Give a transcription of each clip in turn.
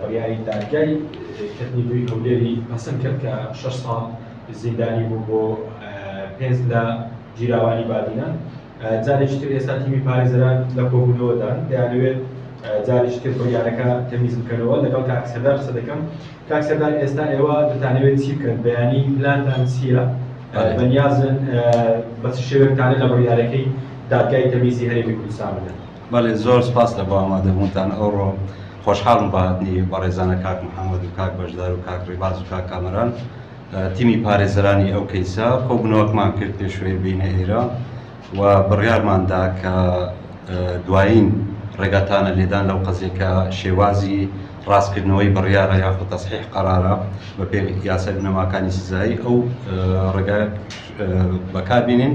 بڕیاری دادگای کردنی دووی هەولێری پەسند کرد کە شەش ساڵ زیندانی بوو بۆ پێنج لە گیراوانی بادینە جارێکی تر ئێستا تیمی پارێزەران لە کۆبوونەوەدان دەیانەوێت جارێکی تر بڕیارەکە تەمیز بکەنەوە لەگەڵ کاک سەردار قسە دەکەم کاک سەردار ئێستا ئێوە دەتانەوێت چی بکەن بەیانی پلانتان چییە بەنیازن بە چ شێوەیەک تانە لە بڕیارەکەی دادگای تەمیزی هەرێمی کوردستان بدەن بەڵێ زۆر سوپاس لە بۆ ئامادە بوونتان ئەوڕۆ خۆشحاڵم بەهاتنی بەڕێزانە کاک محەممەد و کاک بەشدار و کاک ڕێباز و کاک کامەران تیمی پارێزەرانی ئەو کەیسە کۆبنەوەکمان کرد پێشوەی بینە ئێرە و بڕیارماندا کە دوایین ڕێگاتانە لێدان لەو قەزێکە شێوازی ڕاستکردنەوەی بڕیارە یاخود تەسحیح قەرارە بە پێ یاسە بنەماکانی سزایی ئەو ڕێگا بەکاربیێن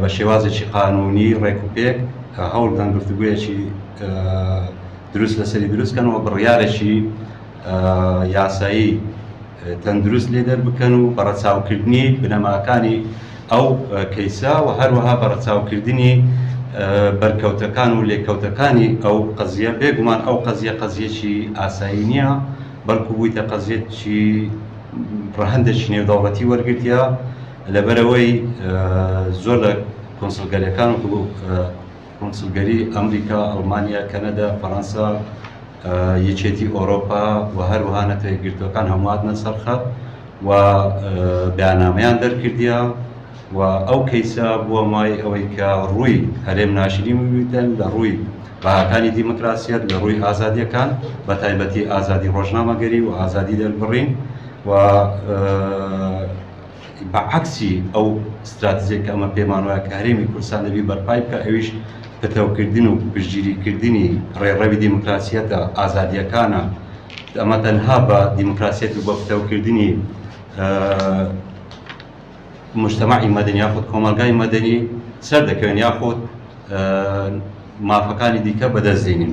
بە شێوازێکی قانوونی ڕێکوپێک هەوڵدەن گفتوگویەکی دروست لەسەری دروست کەنەوە بڕیارێکی یاسایی تەندروست لێ دەربکەن و بەڕەچاوکردنی بنەماکانی ئەو کەیسە و هەروەها بەڕەچاوکردنی بەرکەوتەکان و لێکەوتەکانی ئەو قەزیە بێگومان ئەو قەزیە قەزیەکی ئاسایی نییە بەڵکو بوویتە قەزیەتکی ڕەهندێکی نێودەوڵەتی وەرگتیە لەبەرئەوەی زۆر لە کۆنسڵگەریەکان وەکو کۆنسڵگەری ئەمریکا، ئەڵمانیا، کەنەدا، فەرەنسا، یەکێتی ئۆرۆپا و هەروەها نەتەوە یەکگرتووەکان هەموو هاتنە سەر خەت و بەیاننامەیان دەرکردیە و ئەو کەیسە بووە مای ئەوەی کە ڕووی هەرێم ناشرین ببیتن لە ڕووی بەهاکانی دیموکراسیەت لە ڕووی ئازادیەکان بە تایبەتی ئازادی ڕۆژنامەگەری و ئازادی دەربڕین و بە عەکسی ئەو ستراتژیە کە ئەمە پێمان وایە کە هەرێمی کوردستان دەبی بەرپای بکا ئەویش پتەو کردن و پشتگیری کردنی ڕێڕەوی دیموکراسیەتە ئازادیەکانە ئەمە تەنها بە دیموکراسیەت و بە پتەو کردنی مجتمعی مەدەنی یاخود کۆمەلگای مەدەنی سەر دەکەوێن یاخود مافەکانی دیکە بەدەست دێنین.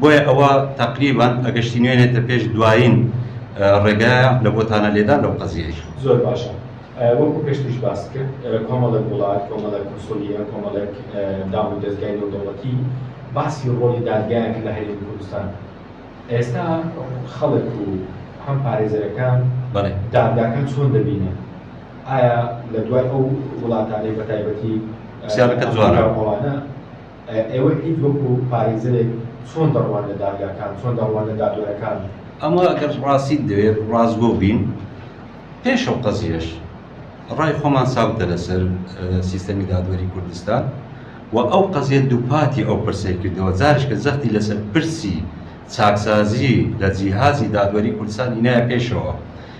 بۆیە ئەوە تەقریبەن ئەگەشتی نوێنێتە پێش دوایین ڕێگایە لە بۆتانە لێدان لەو قەزیەی. زۆر باشە وەکو پێشتریش باست کرد کۆمەڵێک وڵات کۆمەڵێک کونسولیە کۆمەڵێک دام و دەزگای نێودەوڵەتی باسی ڕۆڵی دادگایان کە لە هەرێمی کوردستان ئێستا خەڵک و هەم پارێزەرەکان دادگاکان چۆن دەبینە ئایا لە دوای ئەو وڵاتانەی بەتایبەتی پرسیارەکە جوانە. ئێوە ئید وەکو پارێزەرێک چۆن دەڕوان لە دادگاکان چۆن دەڕوان لە دادوەرەکان؟ ئەمە ئەگەر ڕاستیت دەوێت ڕاستگۆ بین پێش ئەو قەزیەش ڕای خۆمان ساوتە لەسەر سیستەمی دادوەری کوردستان و ئەو قەزیە دووپاتی ئەو پرسەی کردەوە جارش کە زەختی لەسەر پرسی چاکسازی لە جیهازی دادوەری کوردستان هینایە پێشەوە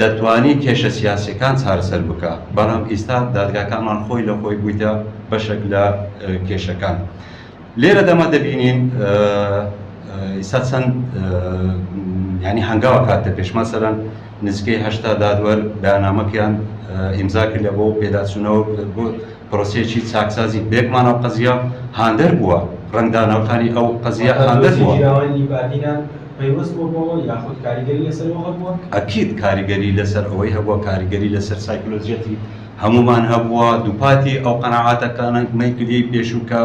دەتوانی کێشە سیاسیەکان چارەسەر بکا بەڵام ئیستا دادگاکانمان خۆی لە خۆی بویتە بەشەک لە کێشەکان لێرە دەمە دەبینین ئیستا چەند ینی هەنگاوە کاتە پێشمان سەرەن نزیکەی هەشتا دادوەر بەنامەکەیان ئیمزا کرد لە بۆ پێداچوونەوە بۆ پرۆسیەکی چاکسازی بێکمان ئەو قەزیە هاندەر بووە ڕنگدانەوەکانی ئەو قەزیە هاندەر بووە. پەیوەست بووە بەوە یاخود کاریگەری لەسەر ئەوە هەبووە؟ ئەکید کاریگەری لەسەر ئەوەی هەبووە، کاریگەری لەسەر سایکلۆجیەتی هەموومان هەبووە، دووپاتی ئەو قەناعاتەکانەی دووگیەی پێشوو کە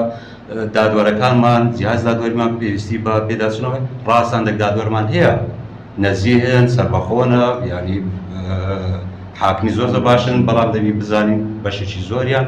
دادوەرەکانمان، جیهاز دادوەریمان پێویستی بە پێداچوونەوە، ڕاست هەندێک دادوەرمان هەیە نەزیهن، سەربەخۆنە، یانی حاکمی زۆر زۆر باشن، بەڵام دەبی بزانین بەشێکی زۆریان،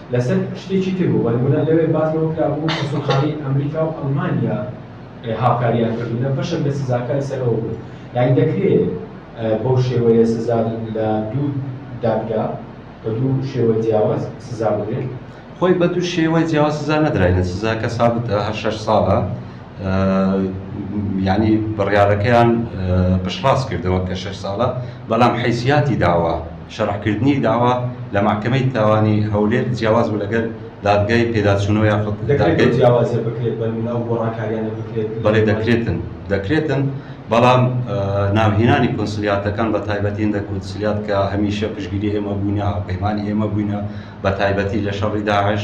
لەسەر شتێکی تر بوو، بە نموونە لەوێ باس لەوە کرا بوو کونسوڵخانەی ئەمریکا و ئەڵمانیا هاوکارییان کردوون لە بەشێک لە سزاکان سەر ئەوە بوو یانی دەکرێت بەو شێوەیە سزا لە دوو دادگا بە دوو شێوە جیاواز سزا بدرێت. خۆی بە دوو شێوەی جیاواز سزا نەدراینە، سزاکە سابتە، هەر شەش ساڵە. یانی بڕیارەکەیان پشتڕاست کردەوە کە شەش ساڵە بەڵام حیسیاتی داوا شەڕحکردنی داوا لە ماکەمەی تاوانی هەولێر جیاواز بوو لەگەر دادگای پێداچوونەوە یاخود دەکرێت جیاوازە بکرێت بە منە و گۆڕانکاریانە بکرێت بەڵێ دەکرێتن دەکرێتن بەڵام ناوهێنانی کۆنسلیاتەکان بە تایبەتی هندە کونسلیات کە هەمیشە پشگیری ئێمە بووینە هاوپەیمانی ئێمە بووینە بە تایبەتی لە شەڕی داعش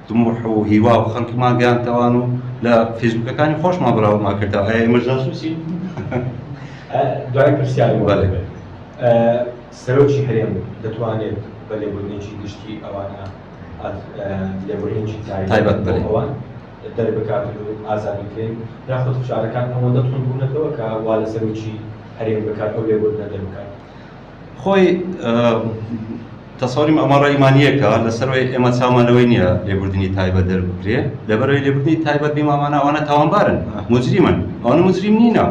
تموح و هیوا و خەلکمان گەیان تەوان و لە فیسبوکەکانی خۆشمان بلاوما کردەوە ئایا ئێمەش جاسوسین دوای پرسیاری بەڵێ سەرۆکی هەرێم دەتوانێت بە لێبوردنێکی گشتی ئەوانە لێبوردنێکی تایبەت بەڵێ ئەوان دەربکات و ئازادی بکەین یاخود فشارەکان ئەوەندە تونبوونەتەوە کە وا لە سەرۆکی هەرێم بکات ئەو لێبوردنە دەربکات خۆی تەسەوری ئەمە ڕێمانیەکە لەسەرەوەی ئێمە چامان لەوەی نییە لێبوردنی تایبەت دەربکرێ لەبەرەوەی لێبوردنی تایبەت بیمامانە ئەوانە تاوانبارن مجریمن ئەوانە مجریم نینە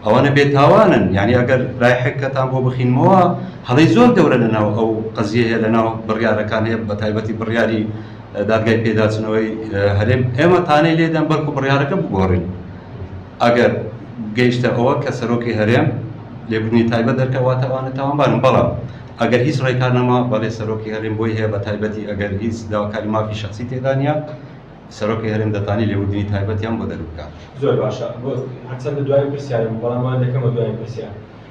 ئەوانە بێتاوانن یعنی ئەگەر لای حکەتان بۆ بخینمەوە هەڵی زۆر گەورە لەناو ئەو قەزیەیە لەناو بڕیارەکان هەیە بە تایبەتی بڕیاری دادگای پێداچنەوەی هەرێم ئێمە تانەی لێدەن بەڵکو بڕیارەکە بگۆڕین ئەگەر گەیشتە ئەوە کە سەرۆکی هەرێم لێبوردنی تایبەت دەرکە واتە ئەوانە تاوانبارن بەڵام ئەگەر هیچ ڕێکار نەما بەڵێ سەرۆکی هەرێم بۆی هەیە بە تایبەتی ئەگەر هیچ داواکاری مافی شخصی تێدا نیە سەرۆکی هەرێم دەتانی لێبوردنی تایبەتیان بۆ دەربکات. زۆر باشە هەرچەندە دوایین پرسیارە بوو بەڵام وان دەکەمە دوایین پرسیار.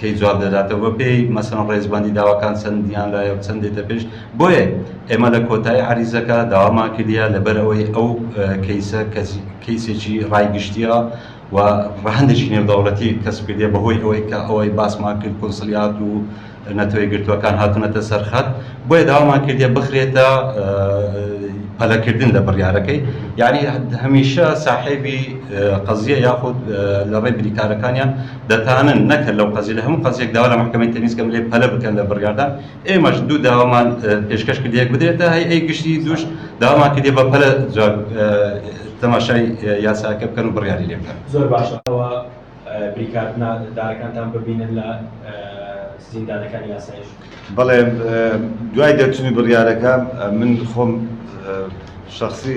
کەی جواب دەداتەوە بە پێی مەسەن ڕێزبەندی داواکان چەندیان لایە و چەند دێتە پێش بۆیە ئێمە لە کۆتایی عەریزەکە داوامان کردیە لەبەر ئەوەی ئەو کەیسە کەیسێکی ڕای گشتیە و ڕەهەندێکی نێودەوڵەتی کەسب کردیە بەهۆی ئەوەی کە ئەوەی باسمان کرد کونسلیات و نەتەوەی گرتووەکان هاتونەتە سەرخەت بۆیە داوامان کردیە بخرێتە پەلەکردن لە بڕیارەکەی یعنی هەمیشە ساحێبی قەزیە یاخود لە ڕێ بریکارەکانیان دەتانن نەکەن لەو قەزیە لە هەموو قەزیەک داوا لە مەحکەمەی تەمیز کەن لێ پەلە بکەن لە بڕیاردان ئێمەش دوو داوامان پێشکەش کردی یەک بدرێتە هەی ئەی گشتی دووش داوامان کردی بە پەلە جواب تەماشای یاساکە بکەن و بڕیاری لێ بکەن زۆر باشەوە بریکارنا دارەکانتان ببینن لە زیندانەکانی یاسایش بەڵێ دوای دەرچووی بڕیارەکە من خۆم شخصی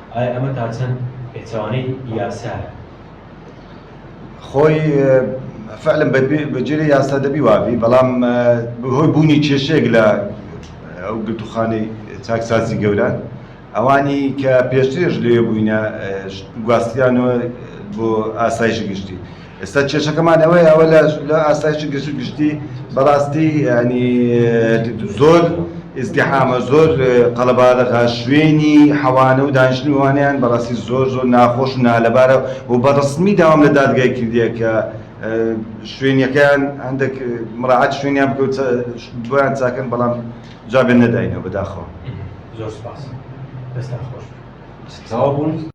ئایا ئەمە تا چەند پێچەوانەی یاسایە؟ خۆی فعلەن بە گوێرەی یاسا دەبی وا بی، بەڵام بەهۆی بوونی کێشەیەک لە ئەو گرتووخانەی چاکسازی گەوران ئەوانی کە پێشترێش لێ بووینە گواستیانەوە بۆ ئاسایشی گشتی. ئێستا کێشەکەمان ئەوەیە ئەوە لە ئاسایشی گشت گشتی بەڕاستی ینی زۆر ئزدیحامە زۆر قەڵەبارەغا شوێنی حەوانە و دانیشتنی وانیان بەڕاستی زۆر زۆر ناخۆش و نالەبارە و بەڕسمی داوام لە دادگای کردیە کە شوێنەکەیان هەندێک مراعات شوێنیان بکەوت بۆیان چاکەن بەڵام جوابێن نەداینەوە بەداخەوە زۆر سپاس دەستان خۆش.